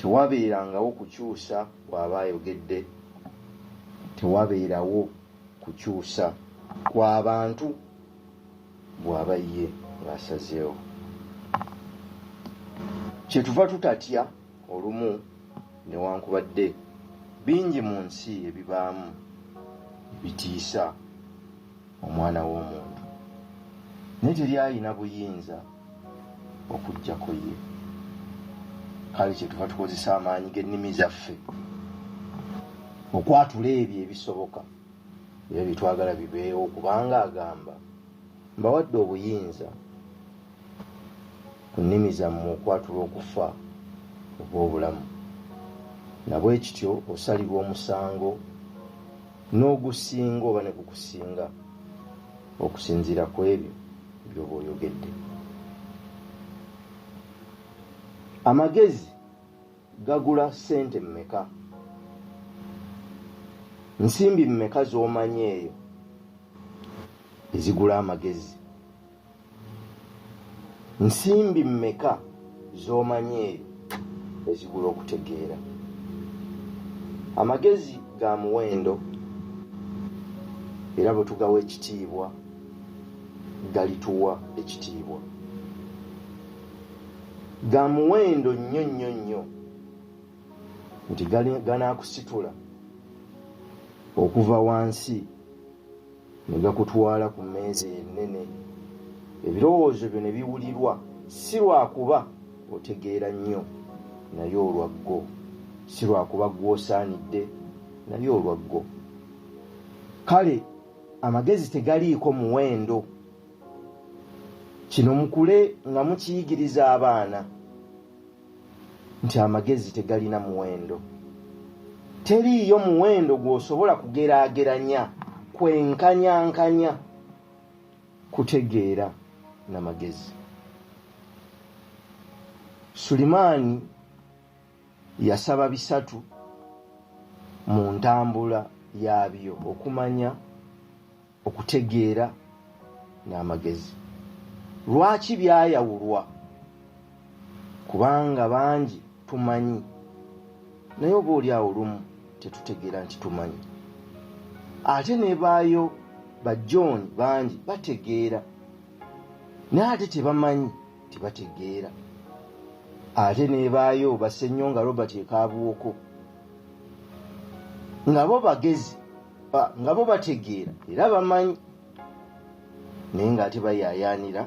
tewabeerangawo kukyusa kwaba ayogedde tewabeerawo kukyusa kwabantu bwaba ye ng'asazeewo kyetuva tutatya olumu newankubadde bingi mu nsi ebibaamu bitiisa omwana w'omuntu naye teri alina buyinza okuggyako ye kale kyetuva tukozesa amaanyi g'ennimi zaffe okwatula ebyo ebisoboka era byetwagala bibeewo kubanga agamba mbawadde obuyinza ku nnimi zammwe okwatula okufa oba obulamu nabwe kityo osalirwa omusango n'ogusinga oba ne gukusinga okusinziira ku ebyo byoba oyogedde amagezi Gagula ssente mmeka? Nsimbi mmeka z'omanyi eyo ezigula amagezi? Nsimbi mmeka z'omanyi eyo ezigula okutegeera? Amagezi ga muwendo era bwe tugawa ekitiibwa galituwa ekitiibwa. ga muwendo nnyo nnyo nnyo nti ganaakusitula okuva wansi ne gakutwala ku mmeeza ennene ebirowoozo byo ne biwulirwa si lwakuba otegeera nnyo naye olwaggo si lwakuba gw'osaanidde naye olwaggo kale amagezi tegaliiko muwendo kino mukule nga mukiyigiriza abaana nti amagezi tegalina muwendo teriiyo muwendo gw'osobola kugeraageranya kwenkanyankanya kutegeera na magezi sulimaani yasaba bisatu mu ntambula yaabyo okumanya okutegeera n'amagezi lwaki byayawulwa kubanga bangi tumanyi naye oba oli awo lumu tetutegeera nti tumanyi ate nebaayo ba john bangi bategeera naye ate tebamanyi tebategeera ate nebaayo basenyo nga robert ekabuwoko nga bo bagezi nga bo bategeera era bamanyi naye ng'ate bayaayaanira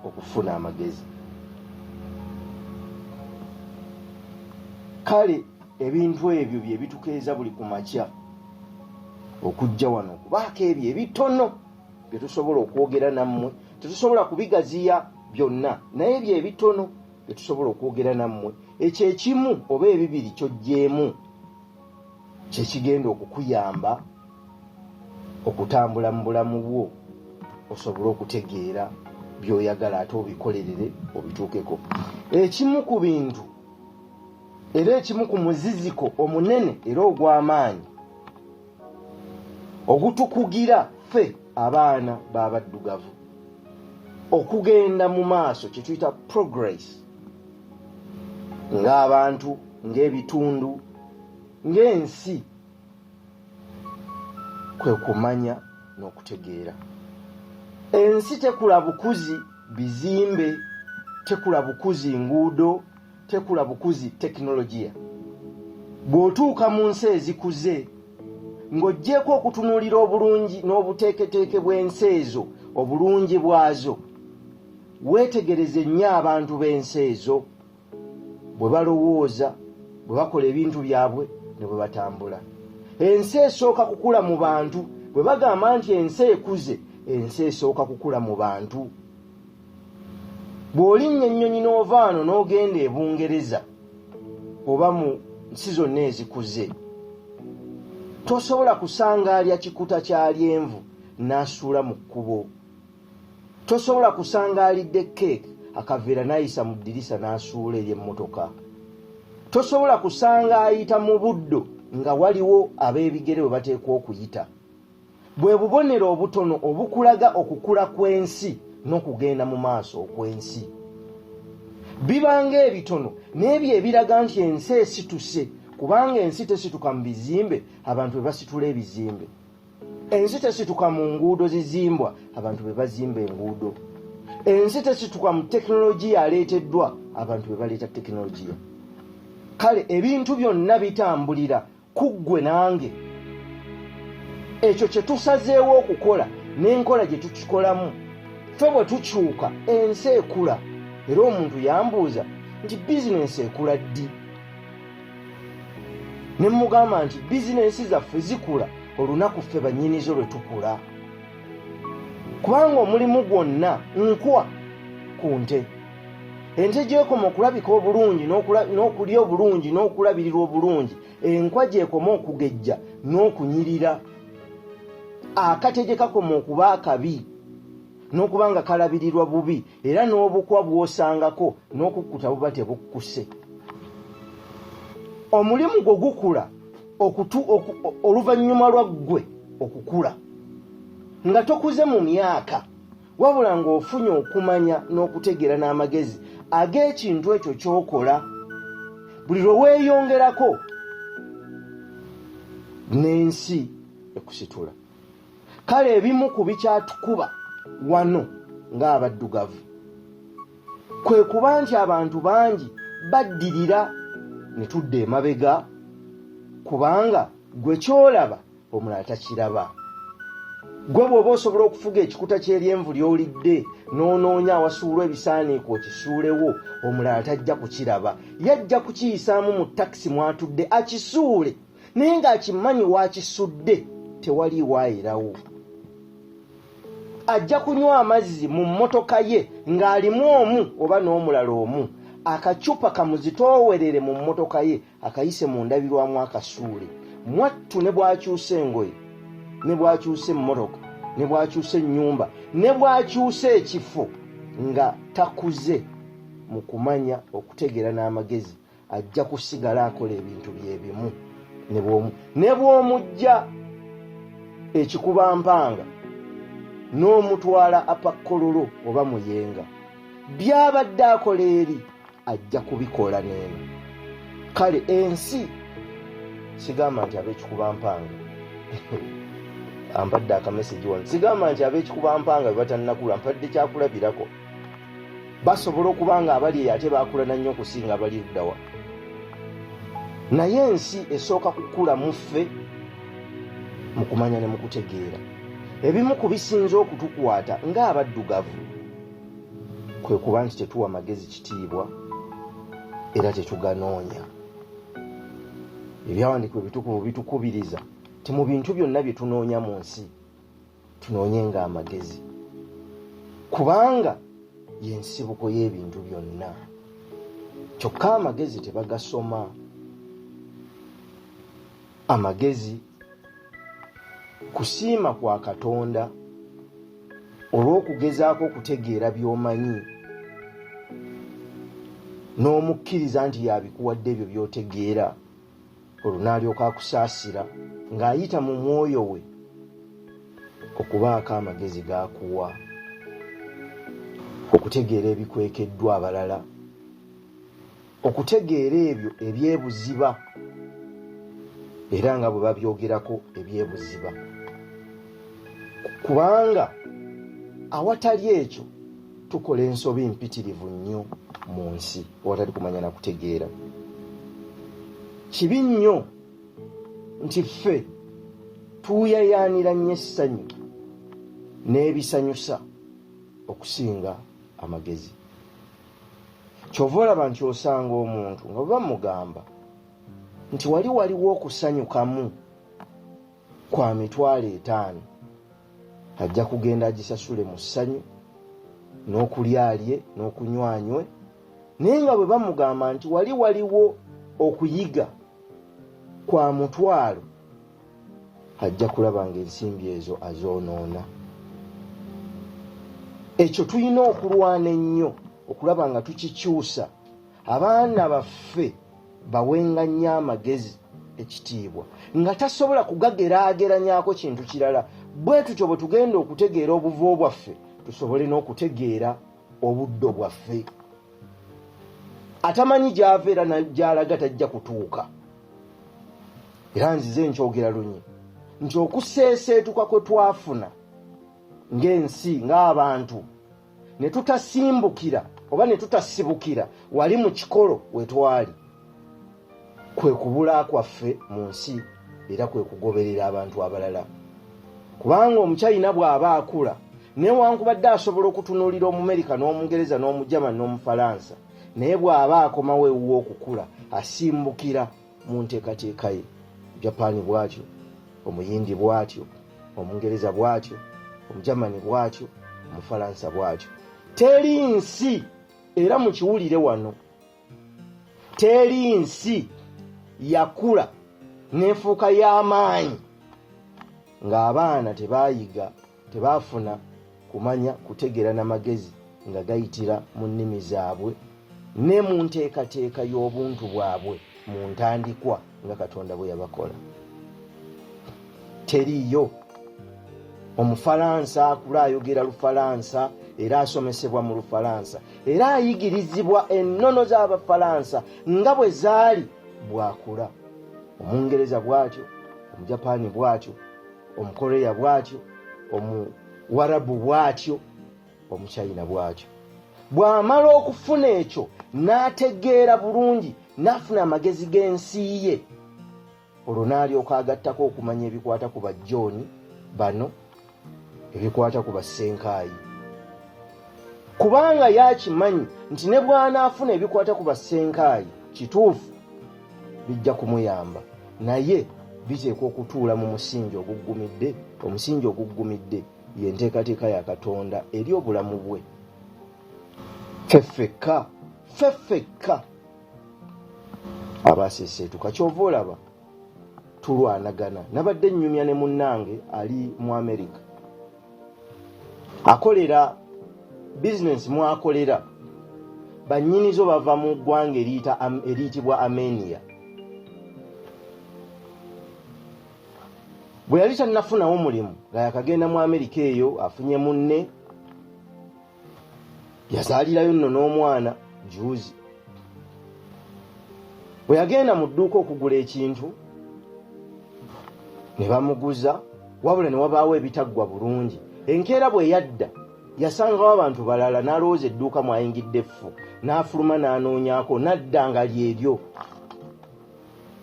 okufuna amagezi kale ebintu ebyo bye bitukeeza buli ku makya okujja wano okubaako ebyo ebitono bye tusobola okwogera nammwe tetusobola kubigaziya byonna naye ebyo ebitono bye tusobola okwogera nammwe ekyo ekimu oba ebibiri kyojjeemu kyekigenda okukuyamba okutambula mu bulamu bwo osobole okutegeera byoyagala ate obikolerere obituukeko ekimu ku bintu era ekimu ku muziziko omunene era ogw'amaanyi ogutukugira ffe abaana b'abaddugavu okugenda mu maaso kyetuyita progress ng'abantu ng'ebitundu ng'ensi kwe kumanya n'okutegeera ensi tekula bukuzi bizimbe tekula bukuzi nguudo tekula bukuzi tekinologiya bw'otuuka mu nsi ezikuze ng'oggyeeko okutunuulira obulungi n'obuteeketeeke bw'ensi ezo obulungi bwazo Weetegereze nnyo abantu b'ensi ezo bwe balowooza, bwe bakola ebintu byabwe ne bwe batambula. Ensi esooka kukula mu bantu. Bwe bagamba nti ensi ekuze, ensi esooka kukula mu bantu. Bw'olinnya ennyonyi n'ova wano n'ogenda e Bungereza oba mu nsi zonna ezikuze, tosobola kusanga alya kikuta kya lyenvu n'asuula mu kkubo. tosobola kusanga alidde keeke akaveera n'ayisa mu ddirisa n'asuula ery'emmotoka tosobola kusanga ayita mu buddo nga waliwo ab'ebigere bwe bateekwa okuyita bwe bubonero obutono obukulaga okukula kw'ensi n'okugenda mu maaso okw'ensi bibanga ebitono n'ebyo ebiraga nti ensi esituse kubanga ensi tesituka mu bizimbe abantu bwe basitula ebizimbe ensi tesituka mu nguudo zizimbwa abantu be bazimba enguudo ensi tesituka mu tekinologiya aleeteddwa abantu be baleeta tekinologiya kale ebintu byonna bitambulira ku ggwe nange ekyo kye tusazeewo okukola n'enkola gye tukikolamu fe bwe tukyuka ensi ekula era omuntu yambuuza nti bizinensi ekula ddi ne mugamba nti bizinensi zaffe zikula olunaku ffe bannyinizo lwe tukula kubanga omulimu gwonna nkwa ku nte ente gyekoma okulabika obulungi n'okulya obulungi n'okulabirirwa obulungi enkwa gyekoma okugejja n'okunyirira akate gye kakoma okuba akabi n'okuba nga kalabirirwa bubi era n'obukwa bw'osangako n'okukkuta buba tebukkuse omulimu gwo gukula oluvannyuma lwa ggwe okukula nga tokuze mu myaka wabula ng'ofunye okumanya n'okutegeera n'amagezi ag'ekintu ekyo ky'okola buli lwe weeyongerako n'ensi ekusitula kale ebimu ku bikyatukuba wano ng'abaddugavu kwe kuba nti abantu bangi baddirira ne tudda emabega kubanga gwe kyolaba omulala takiraba gwe bw'oba osobola okufuga ekikuta ky'eryenvu ly'olidde n'onoonya awasuulwa ebisaaniiko okisuulewo omulala tajja kukiraba yajja kukiyisaamu mu takisi mw'atudde akisuule naye ng'akimanyi waakisudde tewali waayirawo ajja kunywa amazzi mu mmotoka ye ng'alimu omu oba n'omulala omu akacupa kamuzitoowerere mu mmotoka ye akayise mu ndabirwamu akasuule mwattu ne bw'akyusa engoye ne bw'akyusa emmotoka ne bw'akyusa ennyumba ne bw'akyusa ekifo nga takuze mu kumanya okutegeera n'amagezi ajja kusigala akola ebintu byebimu ne bw'omujja ekikuba mpanga n'omutwala apakkololo oba muyenga byabadde akola eri ajja kubikola neeno kale ensi sigamba nti abekikuba mpanga ampadde akamesegi wano sigamba nti abekikuba mpanga bebatannakula mpadde kyakulabirako basobola okuba nga abali eyo ate bakulana nnyo okusinga abali eddawa naye ensi esooka kukula muffe mu kumanya ne mu kutegeera ebimu ku bisinza okutukwata ng'abaddugavu kwe kuba nti tetuwa magezi kitiibwa era tetuganoonya ebyawandiikibwa ebitukuvu bitukubiriza ti mu bintu byonna bye tunoonya mu nsi tunoonye nga amagezi kubanga yensibuko y'ebintu byonna kyokka amagezi tebagasoma amagezi kusiima kwa katonda olw'okugezaako okutegeera by'omanyi n'omukkiriza nti yabikuwadde ebyo by'otegeera olwo n'alyoka akusaasira ng'ayita mu mwoyo we okubaako amagezi g'akuwa okutegeera ebikwekeddwa abalala okutegeera ebyo ebyebuziba era nga bwe babyogerako ebyebuziba kubanga awatali ekyo tukola ensobi mpitirivu nnyo mu nsi awatali kumanya na kutegeera kibi nnyo nti ffe tuyayaanira nnyo essanyu n'ebisanyusa okusinga amagezi kyova olaba nti osanga omuntu nga bwe bamugamba nti wali waliwo okusanyukamu kwa mitwalo etaano ajja kugenda agisasule mu ssanyu n'okulyalye n'okunywanywe naye nga bwe bamugamba nti wali waliwo okuyiga kwa mutwalo ajja kulaba nga ensimbi ezo azoonoona ekyo tulina okulwana ennyo okulaba nga tukikyusa abaana baffe bawenga nnyo amagezi ekitiibwa nga tasobola kugageraageranyako kintu kirala bwe tutyo bwe tugenda okutegeera obuvo bwaffe tusobole n'okutegeera obuddo bwaffe atamanyi gyava era gyalaga tajja kutuuka era nzize nkyogera lunye nti okuseeseetuka kwe twafuna ng'ensi ng'abantu ne tutasimbukira oba ne tutasibukira wali mu kikolo we twali kwe kubula kwaffe mu nsi era kwe kugoberera abantu abalala kubanga omukyayina bw'aba akula newankubadde asobola okutunuulira omumerika n'omungereza n'omujama n'omufalansa naye bw'aba akomawo ewuwa okukula asimbukira mu nteekateeka ye japaani bw'atyo omuyindi bw'atyo omungereza bw'atyo omugermani bw'atyo omufalansa bw'atyo teri nsi era mukiwulire wano teri nsi yakula n'enfuuka y'amaanyi ng'abaana tebaayiga tebaafuna kumanya kutegeera na magezi nga gayitira mu nnimi zaabwe ne mu nteekateeka y'obuntu bwabwe mu ntandikwa nga katonda bwe yabakola teriiyo omufalansa akula ayogera lufalansa era asomesebwa mu lufalansa era ayigirizibwa ennono z'abafalansa nga bwe zaali bwakula omungereza bw'atyo omujapaani bw'atyo omukoreya bwatyo omuwarabu bwatyo omuchina bwatyo bw'amala okufuna ekyo n'ategeera bulungi n'afuna amagezi g'ensi ye olwo n'alyoka agattako okumanya ebikwata ku bajjooni bano ebikwata ku bassenkaayi kubanga yaakimanyi nti ne bw'anaafuna ebikwata ku bassenkaayi kituufu bijja kumuyamba naye biteekwa okutuula mu musingi oguggumidde omusingi oguggumidde ye nteekateeka ya katonda eri obulamu bwe feffekka feffekka abaaseeseetuka kyova olaba tulwanagana nabadde nnyumya ne munnange ali mu amerika akolera bizinensi mwakolera bannyinizo bava mu ggwanga eriyitibwa amenia bwe yali tannafunawo mulimu nga yakagenda mu amerika eyo afunye munne yazaalirayo nno n'omwana juuzi bwe yagenda mu dduuka okugula ekintu ne bamuguza wabula ne wabaawo ebitaggwa bulungi enkeera bwe yadda yasangawo abantu balala n'alowooza edduuka mwayingidde effu n'afuluma n'anoonyako n'adda nga lyeryo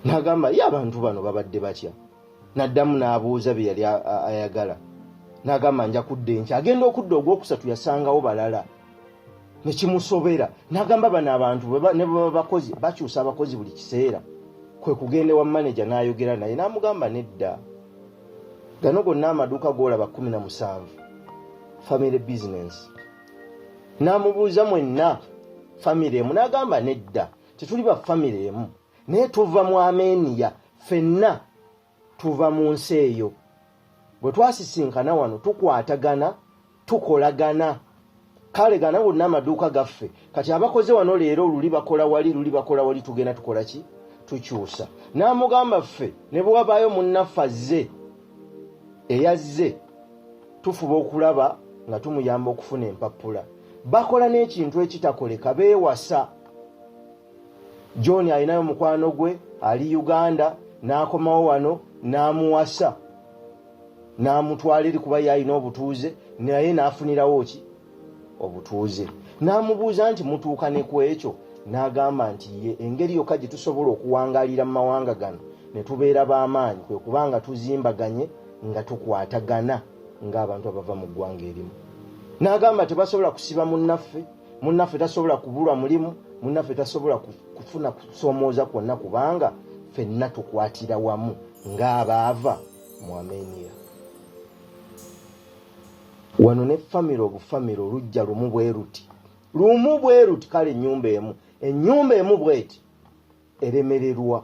n'agamba ye abantu bano babadde batya n'addamu n'abuuza bye yali ayagala n'agamba nja kudda enkya agenda okudda ogwokusatu yasangawo balala ne kimusobera n'agamba bano abantu ne bwe baba bakozi bakyusa abakozi buli kiseera kwe kugenda ewa maneja n'ayogera naye n'amugamba nedda gano gonna amaduuka g'olaba kumi na musanvu family business n'amubuuza mwenna famire emu n'agamba nedda tetuli ba famire emu naye tuva mu ameniya fenna tuva mu nsi eyo bwe twasisinkana wano tukwatagana tukolagana kale gana gonna amaduuka gaffe kati abakoze wano leero luli bakola wali luli bakola wali tugenda tukola ki tukyusa n'amugamba ffe ne bwe wabaayo munnaffe azze eyazze tufuba okulaba nga tumuyamba okufuna empapula bakola n'ekintu ekitakoleka beewasa john alinayo mukwano gwe ali uganda n'akomawo wano n'amuwasa n'amutwala eri kuba ye alina obutuuze naye n'afunirawo ki obutuuze n'amubuuza nti mutuuka ne ku ekyo n'agamba nti ye engeri yokka gye tusobola okuwangaalira mu mawanga gano ne tubeera b'amaanyi kwe kuba nga tuzimbaganye nga tukwatagana ng'abantu abava mu ggwanga erimu n'agamba tebasobola kusiba munnaffe munnaffe tasobola kubulwa mulimu munnaffe tasobola kufuna kusomooza kwonna kubanga fenna tukwatira wamu ng'abaava mu amenia wano ne famire obufamire olujja lumu bwe luti lumu bwe luti kale ennyumba emu ennyumba emu bweti eremererwa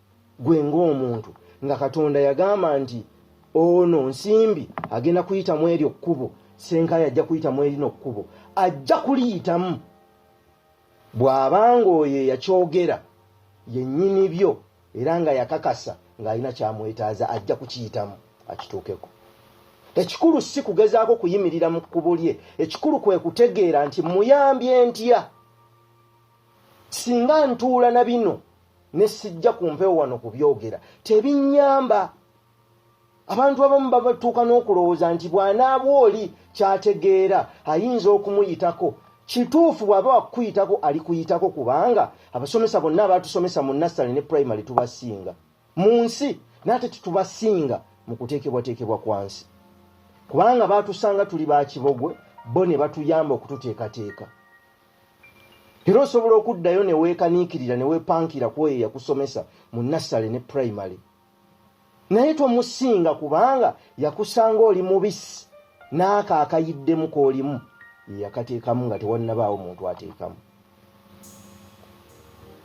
gwe ng'omuntu nga katonda yagamba nti ono nsimbi agenda kuyitamu eryo kkubo senkaayi ajja kuyitamu erino kkubo ajja kuliyitamu bw'aba ng'oyo eyakyogera yennyini byo era nga yakakasa ng'alina kyamwetaaza ajja kukiyitamu akituukeko ekikulu si kugezaako kuyimirira mu kkubo lye ekikulu kwe kutegeera nti muyambye ntya singa ntuula na bino ne sijja ku mpewo wano kubyogera tebinyamba abantu abamu babatuuka n'okulowooza nti bw'anaaba oli kyategeera ayinza okumuyitako kituufu bw'aba wakukuyitako ali kuyitako kubanga abasomesa bonna abaatusomesa mu nassale ne primary tubasinga mu nsi naate tetubasinga mu kuteekebwateekebwa kwa nsi kubanga baatusanga tuli ba kibogwe bo ne batuyamba okututeekateeka era osobola okuddayo ne weekaniikirira ne weepankira ku oyo eyakusomesa mu nassale ne primary naye tomusinga kubanga yakusanga oli mubisi n'ako akayiddemu k'olimu yeyakateekamu nga tewannabaawo muntu ateekamu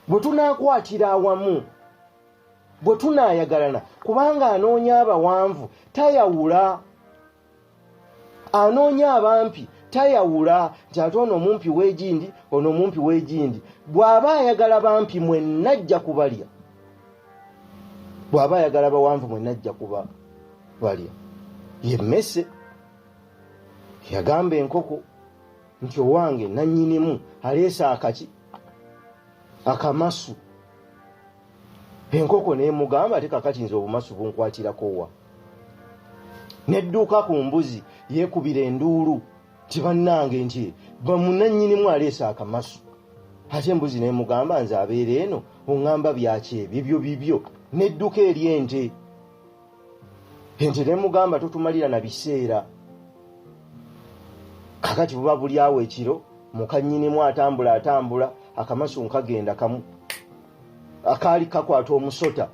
bwe tunaakwatira awamu bwe tunaayagalana kubanga anoonya abawanvu tayawula anoonya abampi tayawula nti ate ono omumpi w'egindi ono omumpi w'egindi bw'aba ayagala bampi mwenna ajja kubalya bw'aba ayagala bawanvu mwenna ajja kuba balya ye mmese yagamba enkoko nti owange nannyinimu aleese akaki akamasu enkoko nemugamba ate kakati nze obumasu bunkwatirakowa nedduuka ku mbuzi yekubira enduulu tibannange nti bamunanyinimu aleesa akamasu ate embuzi nemugamba nze abeera eno oŋamba byaki ebyo byo bibyo nedduka eri ente nti nemugamba totumalira na biseera kakati buba buli awo ekiro mukanyinimu atambula atambula akamasu nkagenda kamu akaali kakwata omusota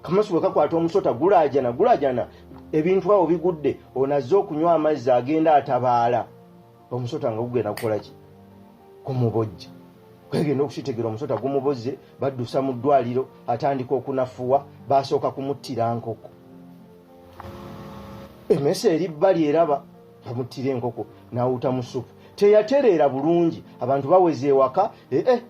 kamasu bwe kakwata omusota gulajana gulajana ebintu awo bigudde onazze okunywa amazzi agenda atabaala omusota nga gugenda kukolaki kumubojja kwegenda okukitegera omusota gumubozze baddusa mu ddwaliro atandika okunafuwa basooka kumuttira nkoko emesa eri bbali eraba bamuttira enkoko nawuta mu supu teyatereera bulungi abantu baweza ewaka ee eh, eh,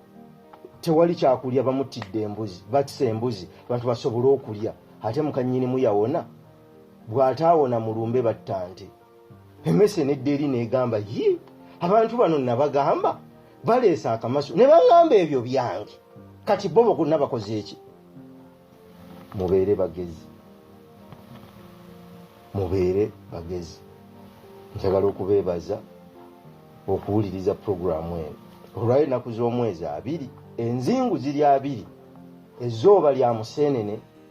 tewali kyakulya bamuttidde embuzi batisa embuzi abantu basobole okulya ate mukanyinimu yawona bw'ataawona mu lumbe battante emese nedda eri negamba yi abantu bano nabagamba baleesa akamasu ne baŋŋamba ebyo byange kati bo bokuna bakoze eki mubeere bagezi mubeere bagezi njagala okubeebaza okuwuliriza puroguramu eno olwayo ennaku z'omwezi abiri enzingu ziri abiri ezooba lya museenene